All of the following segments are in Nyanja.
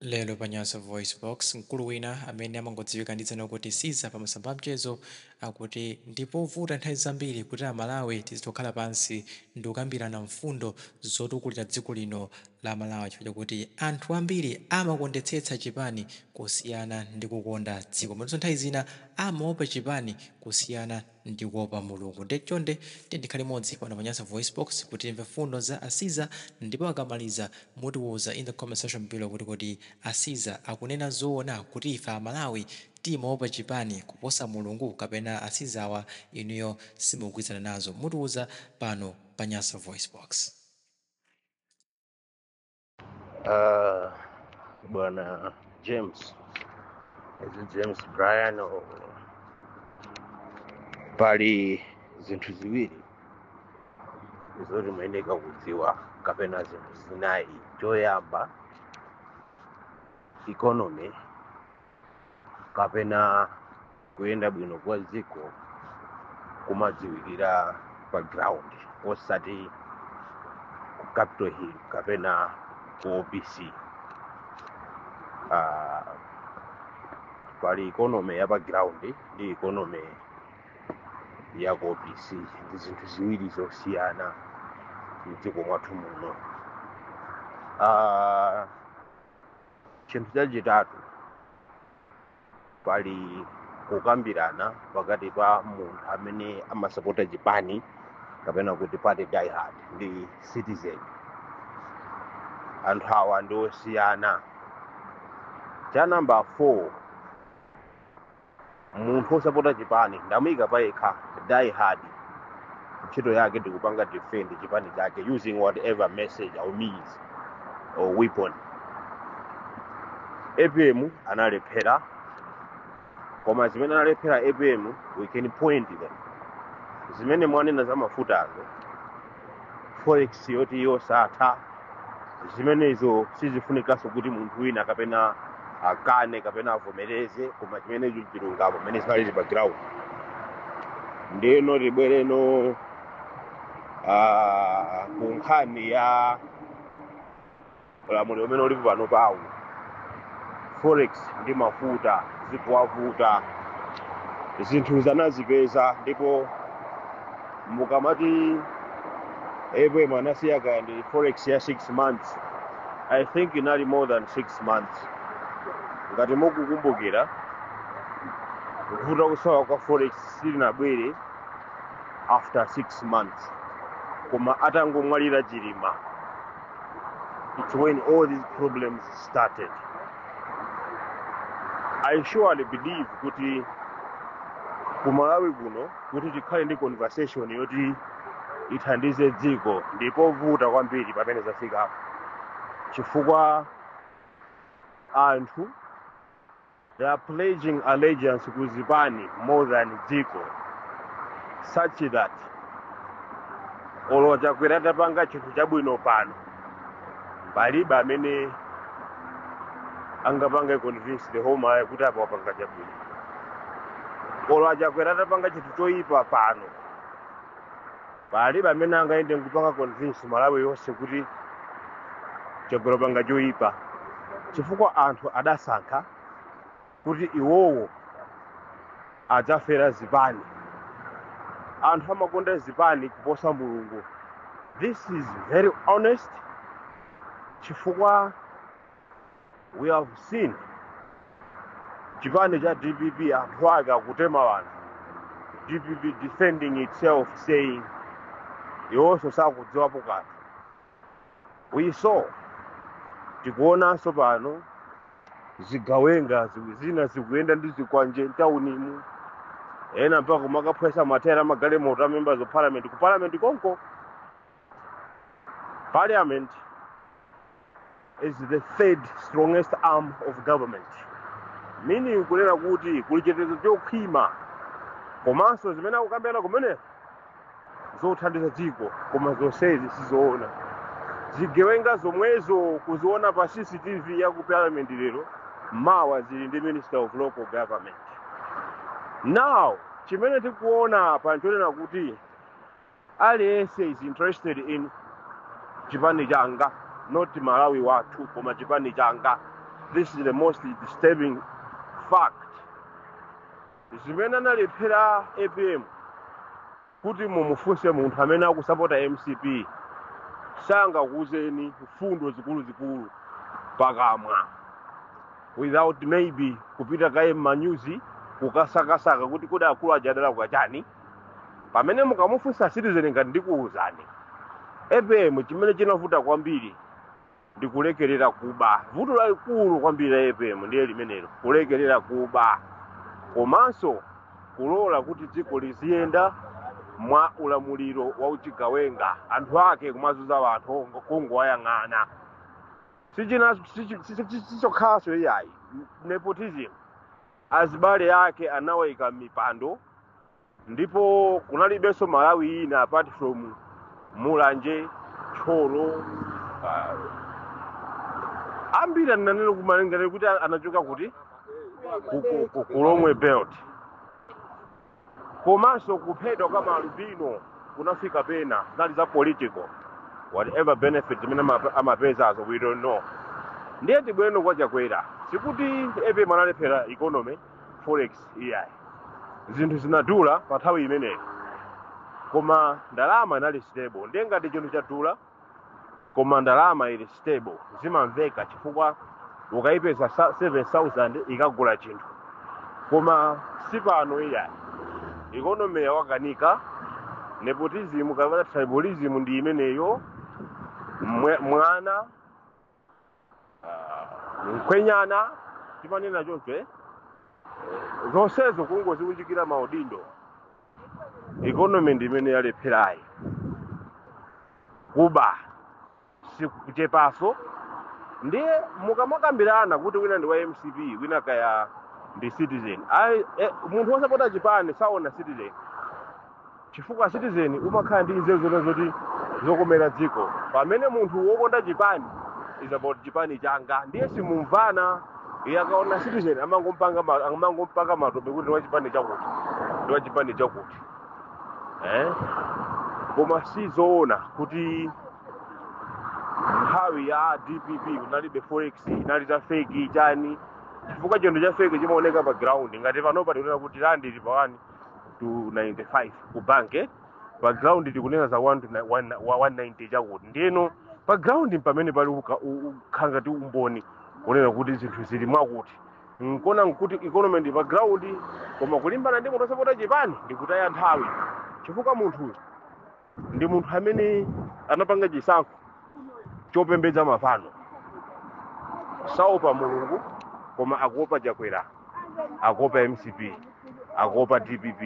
Lero pa Nyasa VoiceBox, mkulu wina amene amangodziwika ndi dzina kuti Siza pa masamba amchezo akuti ndi povuta nthawi zambiri kuti Amalawi tizitha kukhala pansi ndikukambirana mfundo zotukulira dziko lino la Malawi chifukwa chakuti anthu ambiri amakondetsetsa chipani kusiyana ndi kukonda dziko komanso nthawi zina amaopa chipani kusiyana ndikuopa mulungu nde chonde tiyeni tikhale limodzi pano pa Nyasa VoiceBox kuti timve mfundo za a Siza ndipo akamaliza mutiuza in the comment section below kuti kodi a Siza akunena zoona kuti ife amalawi timaopa chipani kuposa mulungu kapena a Sizawa inuyo simukugwirizana nazo mutiuza pano pa Nyasa VoiceBox. Uh, bwana James, is it James Brian or pali zinthu ziwiri zoti muyeneka kudziwa kapena zinthu zinayi choyamba economy kapena kuyenda bwino kwa dziko kumadziwikira pa ground osati ku capital hill kapena ku opc uh, pali economy ya pa ground ndi economy ya ku opc ndi zinthu ziwiri zosiyana mdziko mwathu muno uh, chinthu chachitatu pali kukambirana pakati pa munthu amene amasapota chipani kapena kuti party diehard ndi citizen anthu awa ndi osiyana cha namba 4 munthu wosapota chipani ndamuyika payekha die hard ntchito yake ndikupanga defend chipani chake using whatever message or means or weapon apm analephera koma zimene analephera apm we can point them zimene mwanena za mafutazo forex yoti yosatha zimenezo sizifunikanso kuti munthu wina kapena akane kapena avomereze koma chimenecho chilungamo mmene zinalili pa ground ndeno tibwereno ah, ku nkhani ya ulamuliro umene ulipo panopawo forex ndi mafuta zikuwavuta zinthu zanazipeza ndipo mukamati apm anasiya kaya ndi forex ya 6 months i think inali more than 6 months ngati mukukumbukira kuvuta kusowa kwa forex silinabwere after 6 months koma atangomwalira Chilima it's when all these problems started i surely believe kuti ku malawi kuno kuti tikhale ndi conversation yoti ithandize dziko ndi povuta kwambiri pamene zafikapo chifukwa anthu They are pledging allegiance ku zipani more than dziko such that olo Chakwera atapanga chinthu chabwino pano palibe amene angapange convince the whole Malawi kuti apa wapanga chabwino olo a Chakwera atapanga chinthu choyipa pano palibe amene angayende nkupanga convince malawi yonse kuti Chakwera wapanga choyipa chifukwa anthu adasankha kuti iwowo adzafera zipani anthu amakonda zipani kuposa mulungu this is very honest chifukwa we have seen chipani cha dpp anthu ake akutema wanthu dpp defending itself saying iwonso sakudziwapo kanthu we saw tikuonanso pano zigawenga zina zikuyenda ndi zikwanje mtaunimu ena mpaka kumakaphwesa mateyala a magalimoto a members of parliament ku parliament konko Parliament is the third strongest arm of government meaning kunena kuti kuli chitetezo chokhwima komanso zimene akukambirana kumene zothandiza dziko koma zonsezi sizoona zigawenga zomwezo kuziona pa cctv ya ku parliament lero mawa zili ndi minister of local government now chimene tikuona apa nchonena kuti aliyense is interested in chipani changa not malawi wathu koma chipani changa this is the most disturbing fact zimene analephera apm kuti mumufunse munthu amene akusapota mcp sangakuuzeni mfundo zikuluzikulu pakamwa without maybe kupita kaye m'manyuzi kukasakasaka kuti kodi akulu aja adalakwa chani pamene mukamufunsa citizen ngati ine ndikuwuzani apm chimene chinavuta kwambiri ndi kulekerera kuba vuto lalikulu kwambiri la apm ndiye limenelo kulekerera kuba komanso kulola kuti dziko liziyenda mwa ulamuliro wa uchigawenga anthu ake kumazuza anthu kungowayang'ana si chokhachonso iyayi nepotism azibale ake anawaika m'mipando ndipo kunalibenso malawi ina apart from mulanje tcholo uh, ambiri ananena kumalengera kuti anachoka kuti Ku- ku- ku- kulomwe belt komanso kuphedwa kwa maalubino kunafika pena zinali za political whatever benefit zimene ama- amapezazo we don't know ndiye tibweno kwa chakwera sikuti apm analephera economy forex iyayi zinthu zinadula pa nthawi imeneyo koma ndalama inali stable ndiye ngati chinthu chadula koma ndalama ili stable zimamveka chifukwa ukayipeza sa- 7000 ikagula chinthu koma sipano iyayi ikonomi yawakanika nepotism kapena tribalism ndi imeneyo Mwe- mwana mkwenyana timanena choncho eh? zonsezo kungodziunjikira maudindo ikonomi ndi imene yalepherayi kuba sikuchepaso ndiye mukamakambirana kuti wina ndi wa mcp wina kaya ndi citizen Ayi, eh, munthu wosapota chipani saona citizen chifukwa citizen umakhala ndi nzeru zona zoti zokomera dziko pamene munthu wokonda chipani is about chipani changa ndiye simumvana iye akaona citizen amangompaka ma- amangompaka matope kuti ndiwa chipani chakuti ndiwa chipani chakuti eh? koma si zoona kuti nthawi ya dpp kunalibe forex inali za feki chani chifukwa chinthu cha feki chimaoneka pa ground ngati panopa tikunena kuti randi ili pa 1 to 95 ku banki pa ground tikunena za 1 to ni- one- wa- 190 chakuti ndiyeno pa ground mpamene pali uka- u- ukhala ngati umboni kunena kuti zinthu zili mwakuti nkona nkuti economy ndi pa ground koma kulimbana ndi munthu osapota chipani ndikutaya nthawi chifukwa munthuyo ndi munthu amene anapanga chisankho chopembedza mafano saopa mulungu koma akuopa chakwera akuopa mcp akuopa dpp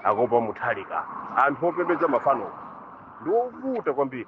akuopa mutharika anthu opembedza mafano ndi ovuta kwambiri